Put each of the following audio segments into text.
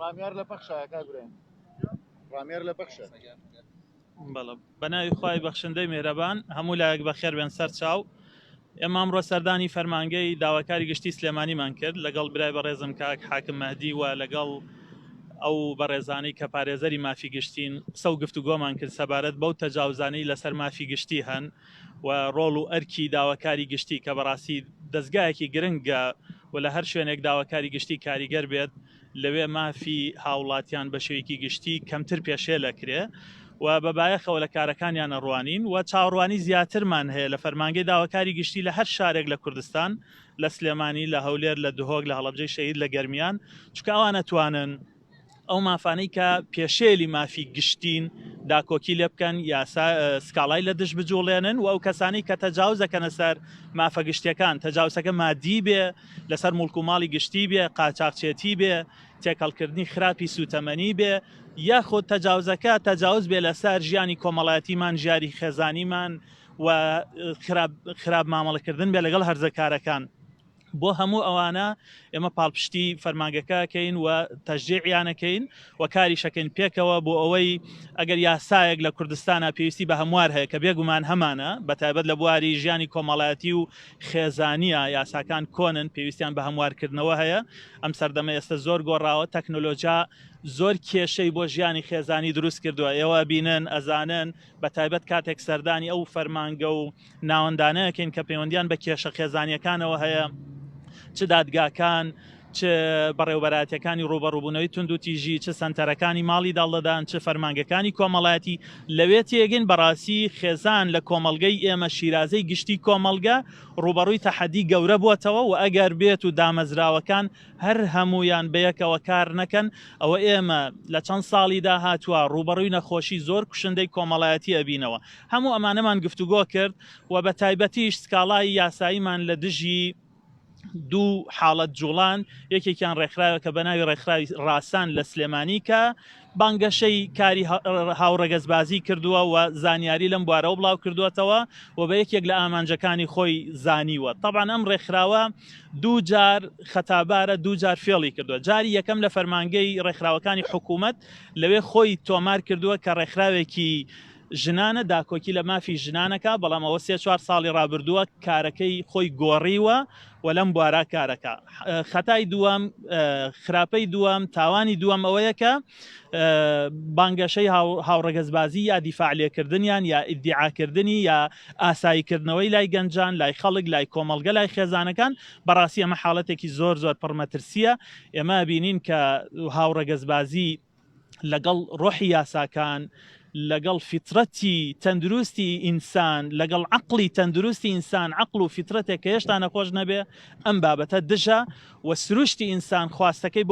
ڕامیار لە پەخشە کاگرێن ڕامیار لە پەخشە بەڵە بەناوی خی بەخشندەی مێرەبان هەموو لایەک بەخێر بێن سەر چاو ئێمە ئەمڕۆ سەردانی فەرمانگەی داواکاری گشتی سلێمانیمان کرد لەگەڵ برای بەڕێزم کاک حاکم مەهدی و لەگەڵ ئەو بەڕێزانەی کە پارێزەری مافی گشتین قسە و گفتوگۆمان کرد سەبارەت بەو تەجاوزانەی لەسەر مافی گشتی هەن و ڕۆڵ و ئەرکی داواکاری گشتی کە بەڕاستی دەستگایەکی گرنگە و لە هەر شوێنێک داواکاری گشتی کاریگەر بێت لەوێ مافی هاوڵاتیان بە شێوەیەکی گشتی کەمتر پێشێل ئەکرێ و بە بایەخەوە لە کارەکانیان ئەڕوانین و چاوەڕوانی زیاترمان هەیە لە فەرمانگەی داواکاری گشتی لە هەر شارێک لە کوردستان، لە سلێمانی، لە هەولێر، لە دهۆک، لە هەڵەبجەی شەهید، لە گەرمیان، چونکە ئەوان ئەتوانن ئەو مافانەی کە پێشێلی مافی گشتین داکۆکی لێ بکەن، یاسا سکاڵای لە دژ بجووڵێنن و ئەو کەسانەی کە تەجاوز ئەکەنە سەر مافە گشتیەکان، تەجاوسەکە مادی بێ، لەسەر موڵک و ماڵی گشتی بێ، قاچاخچێتی بێ، تێکەڵکردنی خراپی سووتەمەنی بێ، یاخود تەجاوزەکە تەجاوز بێ لەسەر ژیانی کۆمەڵایەتیمان، ژیاری خێزانیمان و خراپ خراپ مامەڵەکردن بێ لەگەڵ هەرزەکارەکان. بۆ هەموو ئەوانە ئێمە پاڵپشتی فەرمانگەکە ئەکەین و تەشجیعیان ئەکەین و کاریش ئەکەین پێکەوە بۆ ئەوەی ئەگەر یاسایەک لە کوردستانا پێویستی بە هەموار هەیە کە بێگومان هەمانە بەتایبەت لە بواری ژیانی کۆمەڵایەتی و خێزانییە، یاساکان کۆنن، پێویستیان بە هەموارکردنەوە هەیە، ئەم سەردەمە ئێستە زۆر گۆڕاوە، تەکنۆلۆجیا زۆر کێشەی بۆ ژیانی خێزانی دروست کردووە، ئێوە ئەبینن، ئەزانن، بە تایبەت کاتێک سەردانی ئەو فەرمانگە و ناوەندانە ئەکەین کە پەیوەندییان بە کێشە خێزانییەکانەوە هەیە، چ دادگاکان، چ بەڕێوەبەرایەتیەکانی ڕووبەڕووبوونەوەی توندوتیژی، چ سەنتەرەکانی ماڵی داڵدەدان، چ فەرمانگەکانی کۆمەڵایەتی لەوێ تێگەین، بەڕاستی خێزان لە کۆمەڵگەی ئێمە شیرازەی گشتی کۆمەڵگە ڕووبەڕووی تەحەدی گەورە بووەتەوە و ئەگەر بێت و دامەزراوەکان هەر هەموویان بەیەکەوە کار نەکەن ئەوە ئێمە لە چەند ساڵی داهاتووە ڕووبەڕووی نەخۆشی زۆر کوشندەی کۆمەڵایەتی ئەبینەوە هەموو ئەمانەمان گفتوگۆ کرد و بە تایبەتیش سکاڵای یاساییمان لە دژی دوو حاڵەت جوڵان یەکێکیان ڕێکخراوە کە بە ناوی ڕێکخراوی ڕاسان لە سلێمانی کە بانگەشەی کاری هاوڕەگەزبازی کردووە و زانیاری لەم بوارەوە بڵاو کردوێتەوە و بە یەکێک لە ئامانجەکانی خۆی زانیوە طبعا ئەم ڕێکخراوە دوو جار خەتابارە دوو جار فێڵی کردووە جاری یەکەم لە فەرمانگەی ڕێکخراوەکانی حکوومەت لەوێ خۆی تۆمار کردووە کە ڕێکخراوێکی ژنانە داکۆکی لە مافی ژنانەکا، بەڵام ئەوە سێ چوار ساڵی ڕابردووە کارەکەی خۆی گۆڕیوە و لەم بوارە کارەکا. خەتای دووەم، خراپەی دووەم، تاوانی دووەم ئەوەیە کە بانگەشەی هاوڕەگەزبازی یا دیفاع لێکردنیان یا ئیدیعاکردنی یا ئاساییکردنەوەی لای گەنجان، لای خەڵک، لای کۆمەڵگە، لای خێزانەکان، بەڕاستی ئەمە حاڵەتێکی زۆر زۆر پڕ مەترسییە. ئێمە ئەبینین کە هاوڕەگەزبازی لەگەڵ ڕۆحی یاساکان، لەگەڵ فیترەتی تەندروستی ئینسان، لەگەڵ عەقڵی تەندروستی ئینسان، عەقڵ و فیترەتێک کە هێشتا نەخۆش نەبێ، ئەم بابەتە دژە و سروشتی ئینسان خواستەکەی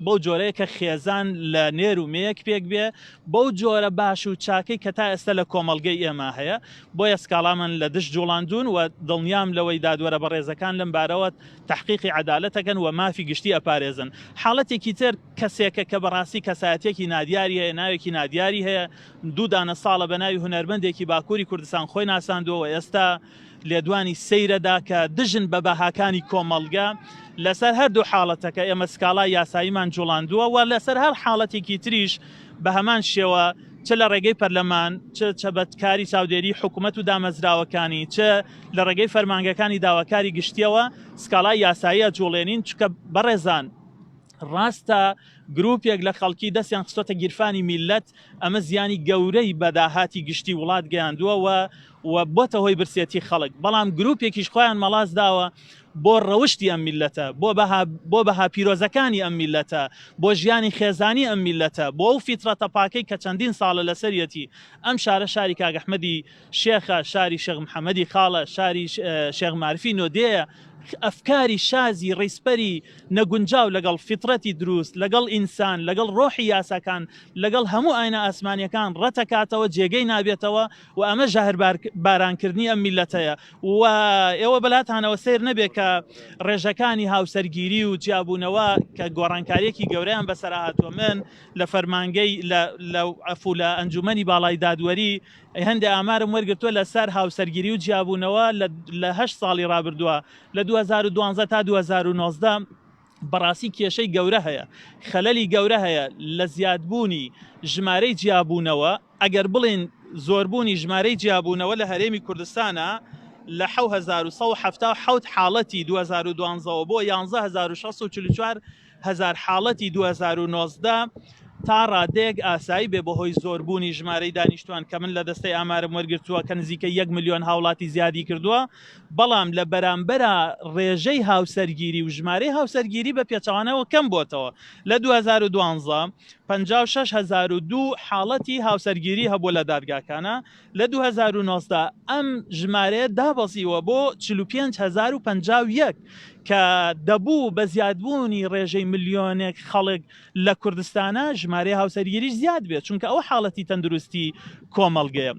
بەو جۆرەیە کە خێزان لە نێر و مێیەک پێک بێ، بەو جۆرە باش و چاکەی کە تا ئێستە لە کۆمەڵگەی ئێمە هەیە، بۆیە سکاڵامان لە دژ جوڵاندوون و دڵنیام لەوەی دادوەرە بەڕێزەکان لەم بارەوە تەحقیقی عەدالەت ئەکەن و مافی گشتی ئەپارێزن. حاڵەتێکی تر. کەسێکە کە بەڕاستی کەسایەتیەکی نادیاری هەیە، ناوێکی نادیاری هەیە، دوو دانە ساڵە بە ناوی هونەرمەندێکی باکوری کوردستان خۆی ناساندووە و ئێستا لێدوانی سەیرەدا کە دژن بە بەهاکانی کۆمەڵگە، لەسەر هەردوو حاڵەتەکە ئێمە سکاڵای یاساییمان جوڵاندووە و لەسەر هەر حاڵەتێکی تریش بە هەمان شێوە چ لە ڕێگەی پەرلەمان، چ چ بە کاری چاودێری حکومەت و دامەزراوەکانی، چ لە ڕێگەی فەرمانگەکانی داواکاری گشتیەوە سکاڵای یاسایی ئەجوڵێنین، چونکە بەڕێزان، ڕاستە گروپێک لە خەڵکی دەستیان خستۆتە گیرفانی میلەت ئەمە زیانی گەورەی بەداهاتی گشتی وڵات گەیاندووەوە و بۆتە هۆی برسێتی خەڵک بەڵام گروپێکیش خۆیان مەڵاس داوە بۆ ڕەوشی ئەم میلەتە بۆ بۆ بەها پیرۆزەکانی ئەم میلەتە بۆ ژیانی خێزانی ئەم میلەتە بۆ ئەو فیترەتە پاکەی کە چەندین ساڵە لەسەرەتی ئەم شارە شاری کاگەحمەدی شێخە شاری شەغ محەممەدی خاڵە شاری شێغمارفی نۆدەیە ئەفکاری شازی ڕیزپەری نەگونجاو لەگەڵ فیتڕەتی دروست، لەگەڵ ئینسان، لەگەڵ ڕۆحی یاساکان، لەگەڵ هەموو ئاینە ئاسمانیەکان ڕەتەکاتەوە، جێگەی نابێتەوە و ئەمە ژەهر بارانکردنی ئەم میللەتەیە و ئێوە بەلاتانەوە سەیر نەبێت کە ڕێژەکانی هاوسەرگیری و جیابوونەوە کە گۆڕانکاریەکی گەورەیان بەسەرا هاتووە من لە فەرمانگەی لە عەفو لە ئەنجومەنی باڵای دادوەری ی هەندێ ئامارم وەرگرتووە لە سەر هاوسەرگیری و جیابوونەوە لە هەشت ساڵی ڕابردووە لە دوو هەزار و دوازدە تا دوو هەزار و نۆزدە بەڕاستی کێشەی گەورە هەیە خەلەلی گەورە هەیە لە زیادبوونی ژمارەی جیابوونەوە ئەگەر بڵێن زۆربوونی ژمارەی جیابوونەوە لە هەرێمی کوردستانە لە حەوت هەزار و سەد و حەفتا و حەوت حاڵەتی دوو هەزار و دوازدە وە بۆ یانزە هەزار و شەش سەد و چل و چوار هەزار حاڵەتی دوو هەزار و نۆزدە تا ڕادەیەک ئاسایی بێ بەهۆی زۆربوونی ژمارەی دانیشتوان کە من لە دەستەی ئامارم وەرگرتووە کە نزیکە یەک ملیۆن هاوڵاتی زیادی کردووە بەڵام لە بەرامبەرا ڕێژەی هاوسەرگیری و ژمارەی هاوسەرگیری بە پێچەوانەوە کەم بۆتەوە لە 2012 56002 حاڵەتی هاوسەرگیری هەبوو لە دادگاکانە لە دوو هەزار و نۆزدە ئەم ژمارەیە دابەزیوە بۆ چل و پێنج هەزار و پەنجا و یەک کە دەبوو بە زیادبوونی ڕێژەی ملیۆنێک خەڵک لە کوردستانە ژمارەی هاوسەرگیریش زیاد بێت چونکە ئەوە حاڵەتی تەندروستی کۆمەڵگەیە.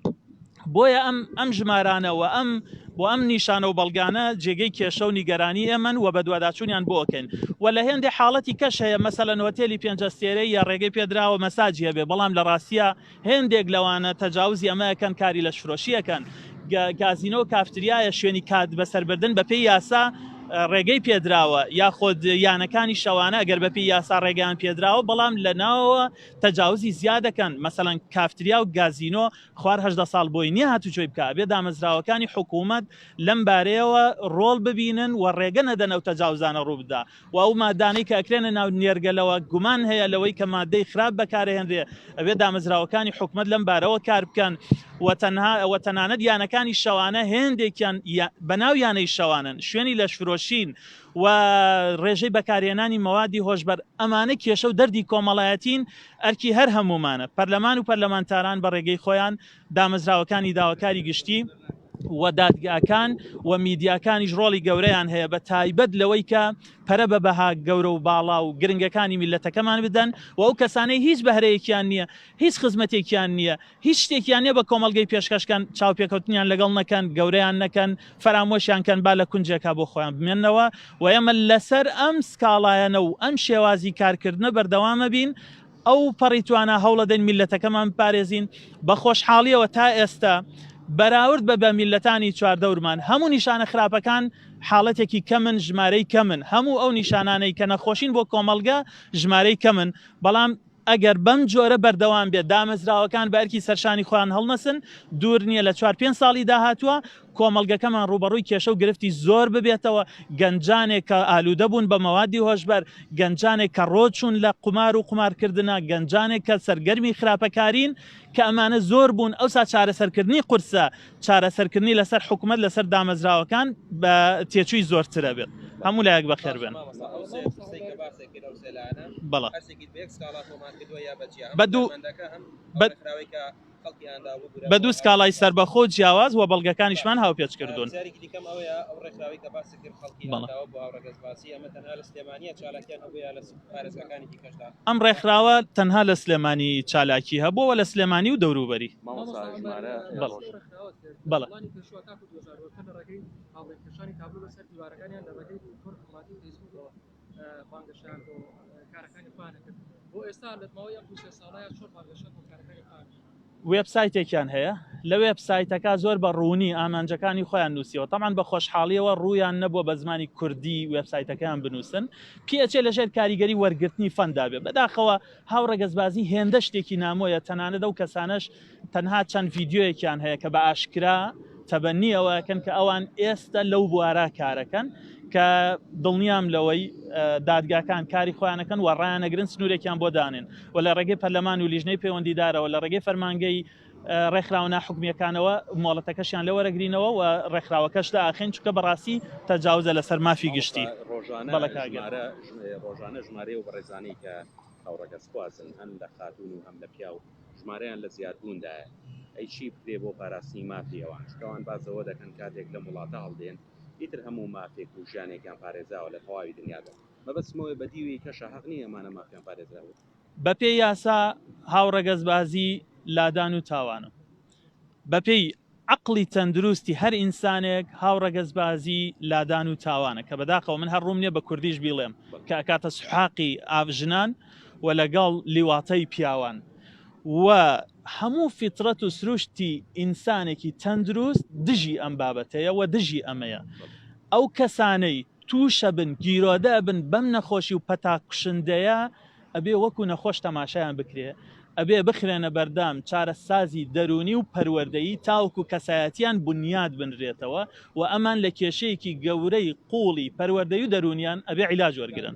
بۆیە ئەم ئەم ژمارانە و ئەم بۆ ئەم نیشانە و بەڵگانە جێگەی کێشە و نیگەرانی ئێمەن و بەدواداچوونیان بۆ ئەکەین و لە هێندێ حاڵەتی کەش هەیە مەسەلەن هۆتێلی پێنج ئەستێرەی یا ڕێگەی پێدراوە مەساجی هەبێ بەڵام لە ڕاستیە هێندێک لەوانە تەجاوزی ئەمە ئەکەن کاری لەشفرۆشی ئەکەن گازینۆ و کافتریایە شوێنی کات بەسەربردن بە پێی یاسا ڕێگەی پێدراوە یاخۆد یانەکانی شەوانە گەر بەپی یاسا ڕێگەیان پێدراوە بەڵام لە ناوە تەجاوزی زیادەکەن مەسەەن کافتریا و گازینۆ خوارهدە ساڵ بۆی نیە هاتوچۆی بک بێ دامەزراوەکانی حکوومەت لەم بارەیەوە ڕۆڵ ببینن و ڕێگە نەدەنەوە تەجاوزانە ڕووبدا و ئەو مادانەی کە ئەکرێنە ناو نێرگەلەوە گومان هەیە لەوەی کە مادەی خراپ بەکارئەهێنرێ ئەبێ دامەزراوەکانی حکومەت لەم بارەوە کار بکەن و تەنها و تەنانەت یانەکانی شەوانە هێندێکیان بەناو یانەی شەوانن شوێنی لەشفرۆشین و ڕێژەی بەکارهێنانی مەوادی هۆشبەر ئەمانە کێشە و دەردی کۆمەڵایەتین ئەرکی هەر هەموومانە پەرلەمان و پەرلەمانتاران بە ڕێگەی خۆیان دامەزراوەکانی داواکاری گشتی و دادگاکان و میدیاکانیش ڕۆڵی گەورەیان هەیە بە تایبەت لەوەی کە پەرە بە بەها گەورە و باڵا و گرنگەکانی میلەتەکەمان بدەن و ئەو کەسانەی هیچ بەهرەیەکیان نییە هیچ خزمەتێکیان نییە هیچ شتێکیان نیە بە کۆمەلگەی پێشکەشکەن چاوپێکەوتنیان لەگەڵ نەکەن گەوریان نەکەن فەرامۆشیان کەن با لە کونجێکا بۆ خۆیان بمێنەوە و ئێمە لەسەر ئەم سکاڵایەنە و ئەم شێوازی کارکردنە بەردەوامە بین ئەو پەڕی توانا هەوڵەدەین میللەتەکەمان بپارێزین، بە خۆشحاڵیەوە تا ئێستە بەراورد بە بە میللەتانی چواردەورمان هەموو نیشانە خراپەکان حاڵەتێکی کەمن ژمارەی کەمن هەموو ئەو نیشانانەی کە نەخۆشین بۆ کۆمەڵگە ژمارەی کەمن بەڵام ئەگەر بەم جۆرە بەردەوام بێت دامەزراوەکان بە ئەرکی سەرشانی خۆیان هەڵنەسن دوور نیە لە چوار پێنج ساڵی داهاتووە کۆمەڵگەکەمان ڕووبەڕووی کێشە و گرفتی زۆر ببێتەوە، گەنجانێک کە ئالوودە بوون بە مەوادی هۆشبەر، گەنجانێک کە ڕۆ چوون لە قومار و قومارکردنە، گەنجانێک کە سەرگەرمی خراپەکارین کە ئەمانە زۆر بوون، ئەوسا چارەسەرکردنی قورسە، چارەسەرکردنی لەسەر حکومەت لەسەر دامەزراوەکان بە تێچووی زۆرترە بێت. هەموو لایەک بەخێر بێن. بەدوو. بە دوو سکاڵای سەربەخۆ جیاواز و بەڵگەکانیشمان هاوپێچ کردوون ئەم ڕێکخراوە تەنها لە سلێمانی چالاکی هەبووە لە سلێمانی و دەوروبەری بەڵێ بانگەشەیان بۆ کارەکانی خۆیان نەکرد. بۆ ئێستا لە ماوەی ئەم دوو سێ ساڵەیە چۆن بانگەشە بۆ کارەکانی خۆیان نەکرد؟ وێبسایتێکیان هەیە، لە وێبسایتەکە زۆر بە ڕوونی ئامانجەکانی خۆیان نووسیوە، تەبعەن بە خۆشحاڵییەوە ڕوویان نەبووە بە زمانی کوردی وێبسایتەکەیان بنووسن، پێئەچێ لەژێر کاریگەری وەرگرتنی فەندا بێ. بەداخەوە. هاوڕەگەزبازی هێندە شتێکی نامۆیە تەنانەت ئەو کەسانەش تەنها چەند ڤیدیۆیەکیان هەیە کە بە ئاشکرا تەبەنی ئەوەکەن کە ئەوان ئێستا لەو بوارە کارەکەن کە دڵنیام لەوەی دادگاکان کاری خۆیانەکەن و ڕایانەگرن سنوورێکیان بۆ دانێن و لە ڕێگەی پەرلەمان و لیژنەی پەیوەندیدارەوە لە ڕێگەی فەرمانگەی ڕێکخراوە ناحکومییەکانەوە مۆڵەتەکەشیان لێ وەرەگرینەوە و ڕێکخراوەکەش داخەین چونکە بەڕاستی تەجاوزە لەسەر مافی گشتی. ڕۆژانە ژمارە ڕۆژانە ژمارەی ئەو بەڕێزانەی کە هاوڕەگەزخوازن هەن لە خاتوون و هەم لە پیاو ژمارەیان لە زیادبووندایە ئەی چی بکرێ بۆ پاراستنی مافی ئەوان چونکە ئەوان باس لەوە دەکەن کاتێک لەم وڵاتە هەڵدێن ئیتر هەموو مافێک و ژیانێکیان پارێزاوە لە تەواوی دنیادا مەبەستمەوەیە بە دیوێی کەشە هەق نییە ئەمانە مافیان پارێزراوە بەپێی یاسا هاوڕەگەزبازی لادان و تاوانە. بەپێی عەقڵی تەندروستی هەر ئینسانێک هاوڕەگەزبازی لادان و تاوانە کە بەداخەوە من هەر ڕووم نییە بە کوردیش بیڵێم کە ئەکاتە سوحاقی ئاڤ ژنان و لەگەڵ لیواتەی پیاوان و هەموو فیتڕەت و سروشتی ئینسانێکی تەندروست دژی ئەم بابەتەیە و دژی ئەمەیە. ئەو کەسانەی. تووشەبن گیرۆدە ئەبن بەم نەخۆشی و پەتا کوشندەیە ئەبێ وەکو نەخۆش تەماشایان بکرێ ئەبێ بخرێنە بەردەم چارەسازی دەروونی و پەروەردەیی تاوەکو کەسایەتیان بنیات بنرێتەوە و ئەمان لە کێشەیەکی گەورەی قوڵی پەروەردەی و دەروونیان ئەبێ عیلاج وەرگرن.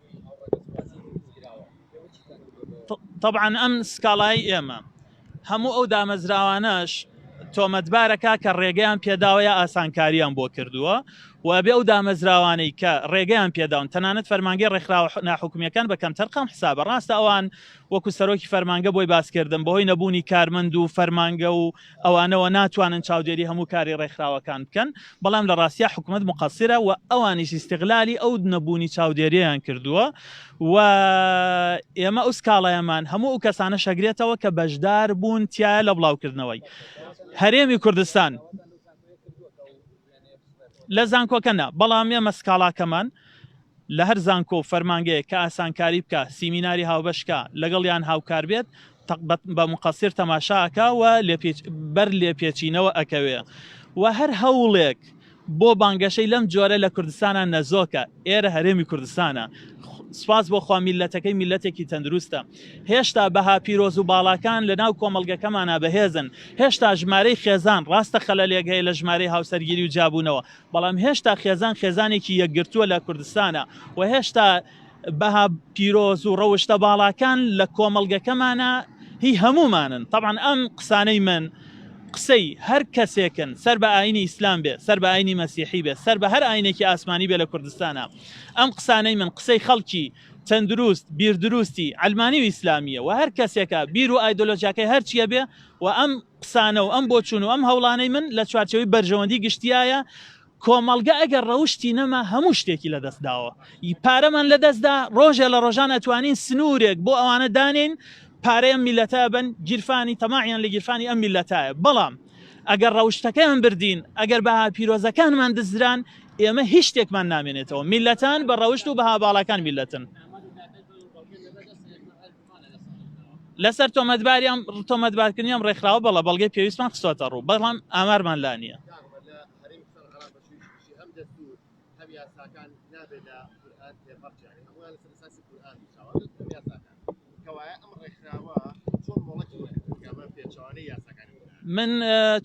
تەبعەن ئەم سکاڵای ئێمە هەموو ئەو دامەزراوانەش تۆمەتبارەکە کە ڕێگەیان پێداوە یا ئاسانکاریان بۆ کردووە و ئەبێ ئەو دامەزراوانەی کە ڕێگەیان پێداون تەنانەت فەرمانگەی ڕێکخراوە ناحکومیەکان بە کەمتەرخەم حسابە ڕاستە ئەوان وەکو سەرۆکی فەرمانگە بۆی باسکردم بەهۆی نەبوونی کارمەند و فەرمانگە و ئەوانەوە ناتوانن چاودێری هەموو کاری ڕێکخراوەکان بکەن، بەڵام لە ڕاستیا حکومەت موقەسیرە و ئەوانیش ئیستیغلالی ئەو نەبوونی چاودێرییان کردووە و ئێمە ئەو سکاڵایەمان هەموو ئەو کەسانەش ئەگرێتەوە کە بەشدار بوون تایە لە بڵاوکردنەوەی هەرێمی کوردستان. لە زانکۆکە نا، بەڵام ئێمە سکاڵاکەمان لە هەر زانکۆ و فەرمانگەیەک کە ئاسانکاری بکا، سیمیناری هاوبەش کا، لەگەڵیان هاوکار بێت، بە موقەسیر تەماشا ئەکا و بەر لێپێچینەوە ئەکەوێ و هەر هەوڵێک بۆ بانگەشەی لەم جۆرە لە کوردستانا نەزۆکە، ئێرە هەرێمی کوردستانە. سوپاس بۆ خوا میللەتەکەی میللەتێکی تەندروستە. هێشتا بەها پیرۆز و باڵاکان لە ناو کۆمەڵگەکەمانا بەهێزن، هێشتا ژمارەی خێزان، ڕاستە خەلەلێک هەیە لە ژمارەی هاوسەرگیری و جیابوونەوە، بەڵام هێشتا خێزان خێزانێکی یەکگرتووە لە کوردستانا و هێشتا بەها پیرۆز و ڕەوشتە باڵاکان لە کۆمەڵگەکەمانا هی هەموومانن، تەبعەن ئەم قسانەی من قسەی هەر کەسێکن سەر بە ئاینی ئیسلام بێ، سەر بە ئاینی مەسیحی بێ، سەر بە هەر ئاینێکی ئاسمانی بێ لە کوردستانا، ئەم قسانەی من قسەی خەڵکی. تەندروست، بیردروستی عەلمانی و ئیسلامییە و هەر کەسێکە بیر و ئایدۆلۆژیاکەی هەر چییە بێ و ئەم قسانە و ئەم بۆچوون و ئەم هەوڵانەی من لە چوارچێوەی بەرژەوەندی گشتیایە، کۆمەڵگە ئەگەر ڕەوشتی نەما هەموو شتێکی لە دەست داوە. پارەمان لە دەست دا، ڕۆژێ لە ڕۆژان ئەتوانین سنوورێک بۆ ئەوانە دانێین پارەی ئەم میللەتە ئەبەن، گیرفانی تەماعیان لە گیرفانی ئەم میللەتایە، بەڵام ئەگەر ڕەوشتەکەیان بردین، ئەگەر بەها پیرۆزەکانمان دزران، ئێمە هیچ شتێکمان نامێنێتەوە. میللەتان بە ڕەوشت و بەها باڵاکان میللەتن. لەسەر تۆمەتباریان تۆمەتبارکردنی ئەم ڕێکخراوە بەڵە بەڵگەی پێویستمان خستوەتە ڕوو بەڵام ئامارمان لا نییە. هەم یاساکان نابێ لە قورئان تێپەڕچێ یانی هەموویان لەسەر ئەساسی قورئان نووسراوە ئەگەر بگرە بە یاساکان کەوایە ئەم ڕێکخراوە چۆن مۆڵەتی وەرگرت کە بە پێچەوانەی یاساکانی قورئان من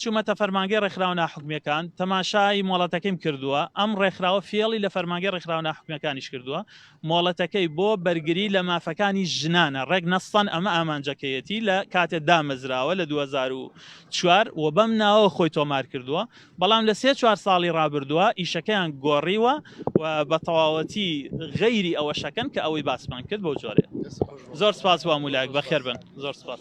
چومەتە فەرمانگەی ڕێکخراوە ناحکومیەکان تەماشای مۆڵەتەکەیم کردووە ئەم ڕێکخراوە فێڵی لە فەرمانگەی ڕێکخراوە ناحکومیەکانیش کردووە مۆڵەتەکەی بۆ بەرگری لە مافەکانی ژنانە ڕێک نەستەن ئەمە ئامانجەکەیەتی لە کاتێ دامەزراوە لە دوو هەزار و چوار و بەم ناوەوە خۆی تۆمار کردووە بەڵام لە سێ چوار ساڵی ڕابردووە ئیشەکەیان گۆڕیوە و بە تەواوەتی غەیری ئەوە شەکەن کە ئەوەی باسمان کرد بەو جۆرێ زۆر سپاس وام ولایەک بەخێربن زۆر سپاس.